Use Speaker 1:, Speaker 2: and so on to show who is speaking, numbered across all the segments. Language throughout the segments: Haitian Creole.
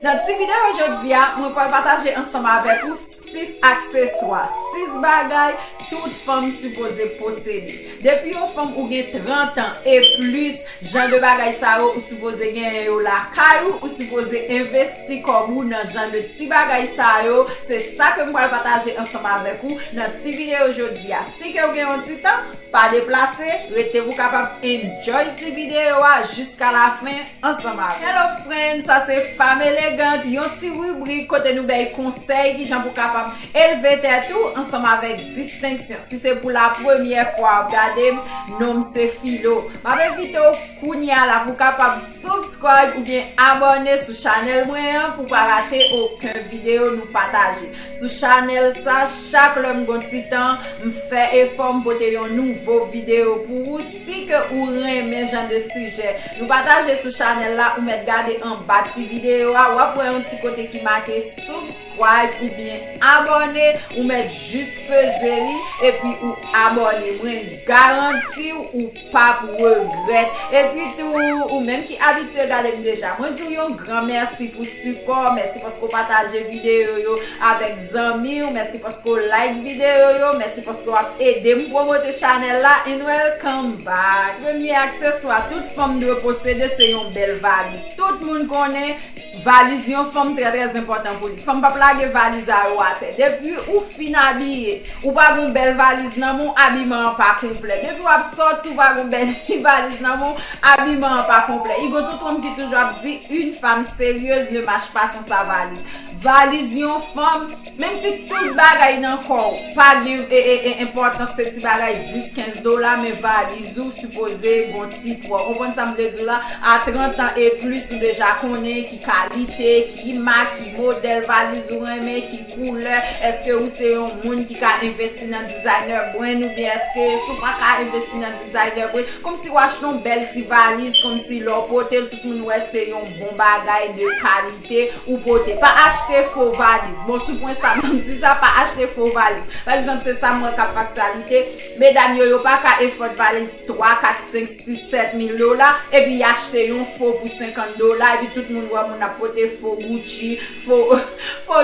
Speaker 1: Nan ti videyo jodi a, mwen pwal pataje ansanm avèk ou 6 akseswa, 6 bagay tout fanm sipoze posede. Depi yon fanm ou gen 30 an e plis, jan de bagay sa yo ou sipoze genyen yo lakay ou, ou sipoze envesti kòb ou nan jan de ti bagay sa yo, se sa ke m pwal pataje ansanm avèk ou nan ti videyo jodi a. Si ke ou gen yon ti tan, pa deplase, rete pou kapab enjoy ti videyo a jiska la fen. ansanm avèm. Hello friend, sa se Femme Elegante, yon ti ribrik kote nou bay konsèy kijan pou kapab elve tèt ou ansanm avèk distenksyon. Si se pou la premyè fwa wap gadem, nonm se Filo. Map envite w kounya la pou kapab subscribe oubyen abòne sou chanèl mwen an pou pa rate oken videyo nou pataje sou chanèl sa. Chak lèm gon ti tan, m fè efò m pote yon nouvo videyo pou ou. Si ke ou renmen jan de sijè nou pataje sou chanèl la ou mèt gade anba ti videyo a wap wè yon ti kote ki make subscribe oubyen abòne ou mèt jis peze li epi ou abòne mwen garantiw ou pap regrèt epi tou ou menm ki abitye gadem deja mwen diw yon gran mèsi pou sipò mèsi paske ou pataje videyo yo avèk zanmiw mèsi paske ou like video yo mèsi paske wap edem promote chanèl la and welcome back premye akseswa tout fanm dwe posede se yon bèl valiz tout moun konnen valiz yon fanm trè trè enpòtan pou li fanm pap lage valiz a yo atè depi ou fin abiye ou pa gon bèl valiz nan men w abiman an pa konplè depi wap sòti ou pa gon bèl valiz nan men w abiman an pa konplè i gon tout fanm ki toujou ap di yn fanm seryez ne mach pa san sa valiz. Valiz yon fanm, menm si tout bagay nan kò w pa gen enpòtans se ti bagay 10, 15 dola men valiz ou sipoze gon ti pwa. Ou konprann sa m vle di w la? A 30 an e plis ou deja konnen ki kalite, ki mak, ki modèl valiz ou renmen, ki koulè. Eske ou se yon moun ki ka envesti nan designer brand oubyen eske si w pa ka envesti nan designer brand. Kòmsi w achte yon bèl ti valiz kòmsi lè w pote l tout moun wè se yon bon bagay de kalite. te ou pote. Pa achte fo valiz. Bon sou pwen sa banm di sa pa achte fo valiz. Pa egzanp se sam wè kap faktyalite, medam yo yo pa ka efòd valiz 3, 4, 5, 6, 7 mil dola epi y achte yon fo pou 50 dola epi tout moun wè moun ap pote fo Gucci, fo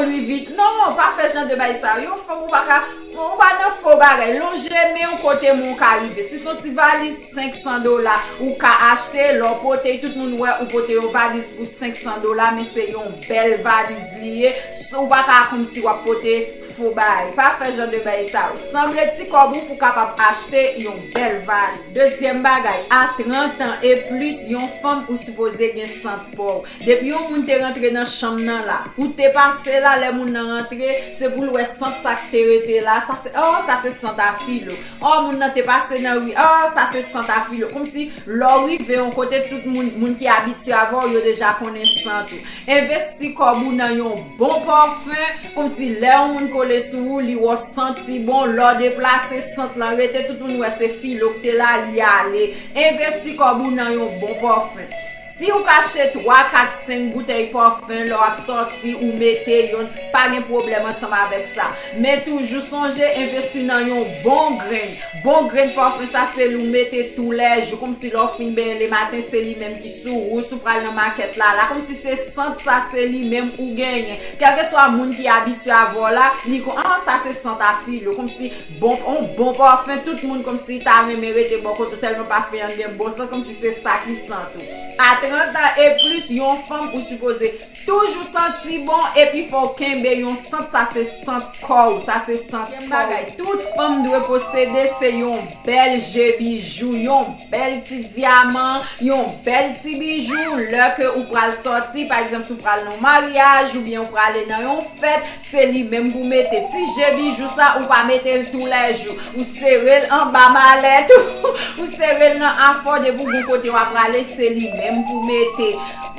Speaker 1: Louis Vuit. Non, pa fè jan de bay sa. Yon fanm ou pa ka. Bon ou pa nan fo bagay, lonje menw kote moun ka rive. Si son ti valiz 500 dola ou ka achte, lè w pote tout moun wè ou pote yon valiz pou 500 dola men se yon bèl valiz li ye, ou pa ka kòmsi wap pote fo bagay. Pa fè jan de bagay sa yo. Sanble ti kòb ou pou kapab achte yon bèl valiz. Dezyèm bagay, a 30 an e plis yon fanm ou sipoze gen sant paw. Depi yon moun te rantre nan chanm nan la, ou te pase la lè moun nan rantre, se pou l wè sant sa k te rete la, sa se, oh, sa se sant a Filo. Oh, moun nan te pase nan ri, oh, sa se sant a Filo. Kòmsi, lè w rive yon kote, tout moun, moun ki abitye avè w, yo deja konnen sant ou. Envesti kòb ou nan yon bon pòfen, kòmsi lè yon moun kole sou ou, li wè w santi bon, lè w deplase, sant lan rete, tout moun wè se Filo k te la, li ale. Envesti kòb ou nan yon bon pòfen. Si ou kache 3, 4, 5 boutèy parfum lè wap sòti ou mete yon pa gen pwoblèm ansanm avèk sa. Men toujou sonje envesti nan yon bon grenn. Bon grenn parfum sa se li ou mete tou lè jou komsi lè ou fin benyen le maten se li menm ki sou ou, si ou pral nan makèt la la komsi se sant sa se li menm ou genyen. Kèlkeswa moun ki abitye avè w la li kon an sa se sant a Filo komsi Bon on bon parfum tout moun komsi ta renmen rete bò kot ou tèlman parfum an gen bon san komsi se sa ki sant ou a 30 ans et plus yon fanm ou sipoze toujou santi bon epi fòw kenbe yon sant sa se sant kòw sa se sant kòw. Tout fanm dwe posede se yon bèl je bijou yon bèl ti dyaman, yon bèl ti bijou, lè ke ou pral sòti, pa egzanp si w pral nan yon maryaj, oubyen ou prale nan yon fèt, se li menm pou mete, ti je bijou sa ou pa mete l tou lè jou, ou sere l anba malèt ou, ou sere l nan afò depi ou gon kote wa prale se li menm pou mete,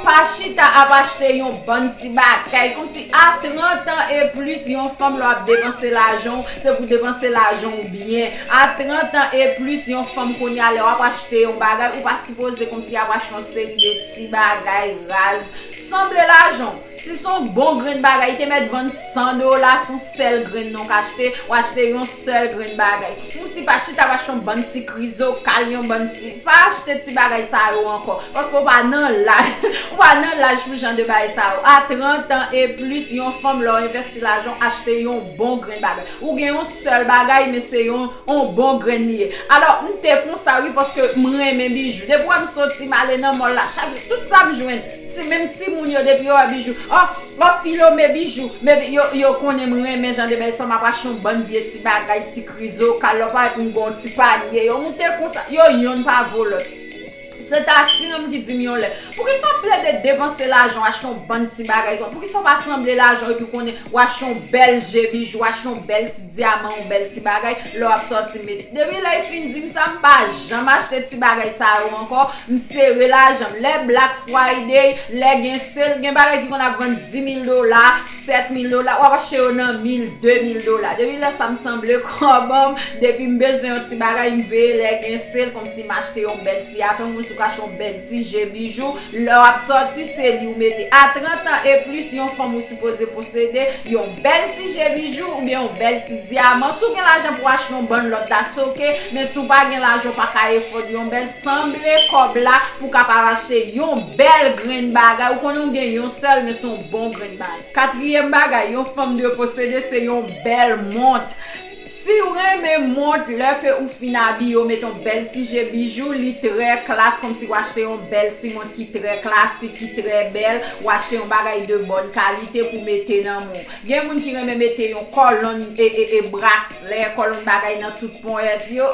Speaker 1: pa chita ap achte yon bann ti bagay, kòm si a 30 an e plis yon fanm lè wap depanse lajan w, se pou depanse lajan w byen. A 30 ans et plus yon fanm kounya lè wap achte yon bagay ou pa sipoze komsi yap achte yon seri de ti bagay raz sanble lajanw si son bon grenn bagay te mèt vann 100 dola son sèl grenn non kachte ou achte yon sèl grenn bagay komsi pa chita ap achte yon bann ti krizokal yon bann ti pa achte ti bagay sa yo ankò paske ou pa nan laj ou pa nan laj pou jan de bagay sa yo a 30 ans et plus yon fanm lè w envèsti lajanw achte yon Bon grenn bagay. Ou gen yon sèl bagay men se yon on bon grenn li ye. Alò m te konsa wi paske m renmen bijou. Depi wè m soti m ale nan mall la chak jou tout sa m jwenn ti menm timoun yo depi yo wè bijou oh oh filo me bijou me bijou yo konnen m renmen jan de bagay sa m ap achte yon bann vye ti bagay ti krizokal lò parèt m gen yon ti panye yo moute konsa yo yonn pa vo lòt. Se ta Tinom ki di m yon lè. Poukisa w ap plede depanse lajan w achte yon bann ti bagay konsa? Poukisa w pa sanble lajan w epi w konnen w achte yon bèl je bijou, w achte yon bèl ti dyaman, yon bèl ti bagay lè w ap sòti met? Depi lè y fin di m sa, m pa janm achte ti bagay sa yo ankò, m sere lajan m. Lè Black Friday, lè gen sale, gen bagay ki konn ap vann dimil dola, sètmil dola, w ap achte yo nan mil, demil dola. Depi lè sa m sanble kòman m, depi m bezwen yon ti bagay, m veye lè gen sale. si m achte yon bèl ti afè, yon moun sou ka achte yon bèl ti je, bijou, lè w ap sòti se li ou mete. A 30 ans et plus yon fanm ou sipoze posede yon bèl ti je, bijou, oubyen yon bèl ti dyaman. Si w gen lajan pou w achte yon bann lòt that's ok, men si w pa gen lajan ou pa ka efòde yon bèl, sanble kòb la pou w kapab achte yon bèl grenn bagay, ou konnen w gen yon sèl men se yon bon grenn bagay. Katriyèm bagay yon fanm dwe posede se yon bèl mont. Siw renmen mont lè ke ou fin abiye ou met yon bèl ti je bijou li trè klass komsi ou achte yon bèl ti mont ki trè klasik ki trè bèl ou achte yon bagay de bòn kalite pou mete nan men w gen moun ki renmen mete yon kòlonn e braslè kòlonn bagay nan tout ponyèt yo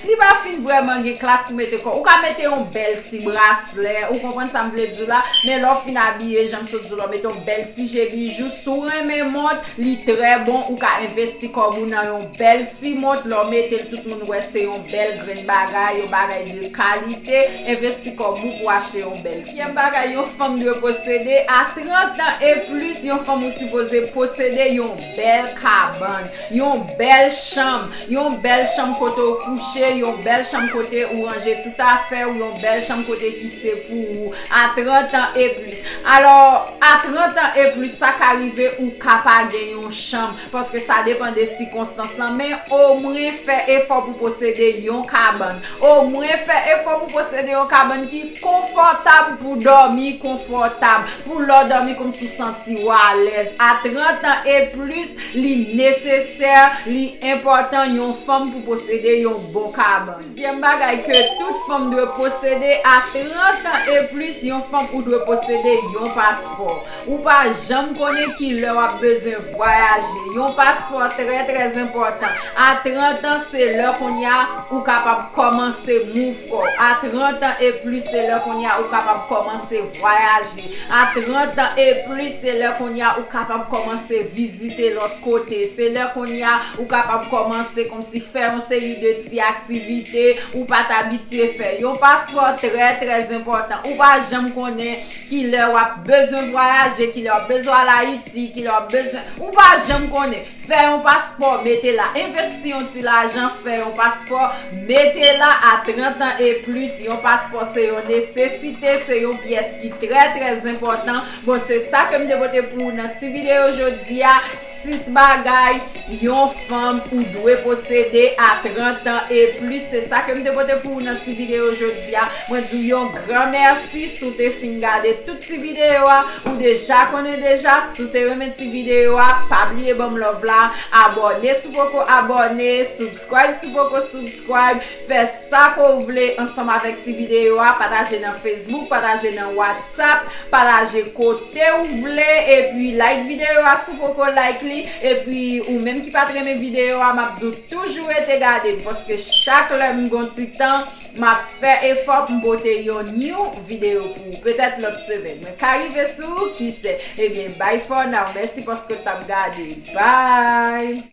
Speaker 1: li pa fin vrèman gen klass pou mete kòw ou ka mete yon bèl ti braslè ou konprann sa m vle di w la men lè w fin abiye jan m sot di w la ou met yon bèl ti je bijou si w renmen mont. Li trè bon ou ka envesti kòb ou nan yon bèl ti mont lè w mete l tout moun wè se yon bèl grenn bagay yon bagay de kalite envesti kòb ou pou achte yon bèl ti mont. Senkyèm bagay yon fanm dwe posede a 30 an e plis yon fanm ou sipoze posede yon bèl kabann yon bèl chanm yon bèl chanm kote w kouche yon bèl chanm kote ou ranje tout afè w yon bèl chanm kote ki se pou ou a 30 an e plis. Alò, a 30 an e plis, sa ka rive ou ka pa gen yon chanm, paske sa depan de sikonstans lan, men omwen fè efò pou posede yon kabann. Omwen fè efò pou posede yon kabann ki konfòtab pou dòmi konfòtab, pou lè w dòmi kòmsi w santi w alèz. A 30 an e plis, li nesesè, li enpòtan yon fanm pou posede yon bon kabann. Dezyèm bagay ke tout fanm dwe posede a 30 an e plis yon fanm ou dwe posede yon paspò. Ou pa janm konnen ki lè wap bezwen vwayaje. Yon paspò trè trè zenpòtan. A 30 an se lè kounye a ou kapab kòmanse mouv kò w. A 30 an e plis se lè kounye a ou kapab kòmanse vwayaje. A 30 an e plis se lè kounye a ou kapab kòmanse vizite lòt kote. Se lè kounye a ou kapab kòmanse kòmsi fè yon seri de. Ti aktivite ou pa t abitye fè. Yon paspò trè trè enpòtan. Ou pa janm konnen ki lè w ap bezwen vwayaje, ki lè w ap bezwen al Ayiti, ki lè w ap bezwen. Ou pa janm konnen. Fè yon paspò, mete la. Envesti yon ti lajan, fè yon paspò, mete la a 30 an e plis. Yon paspò se yon nesesite, se yon pyès ki trè trè enpòtan. Bon, se sa ke m te pote pou ou nan ti videyo jodi a. Sis bagay Yon fanm ou dwe posede a 30 ans e plis se sa kem te pote pou ou nan ti video jodi a mwen di w yon gran mèsi si w te fin gade tout ti video a ou deja konnen deja si w te renmen ti video a pa bliye banm love la abòne si w poko abòne subscribe si w poko subscribe fè Sa ke w vle ansanm avèk ti videyo a, pataje nan Facebook, pataje nan WhatsApp, pataje kote w vle, epi like videyo a si w poko like li, epi ou menm ki pat renmen videyo a map di w toujou rete gade m paske chak lè m gon ti tan map fè efò pou m pote yon new videyo pou ou petèt lòt semèn mwen ka rive sou ou kise ebyen bye for now mèsi paske w tap gade bye.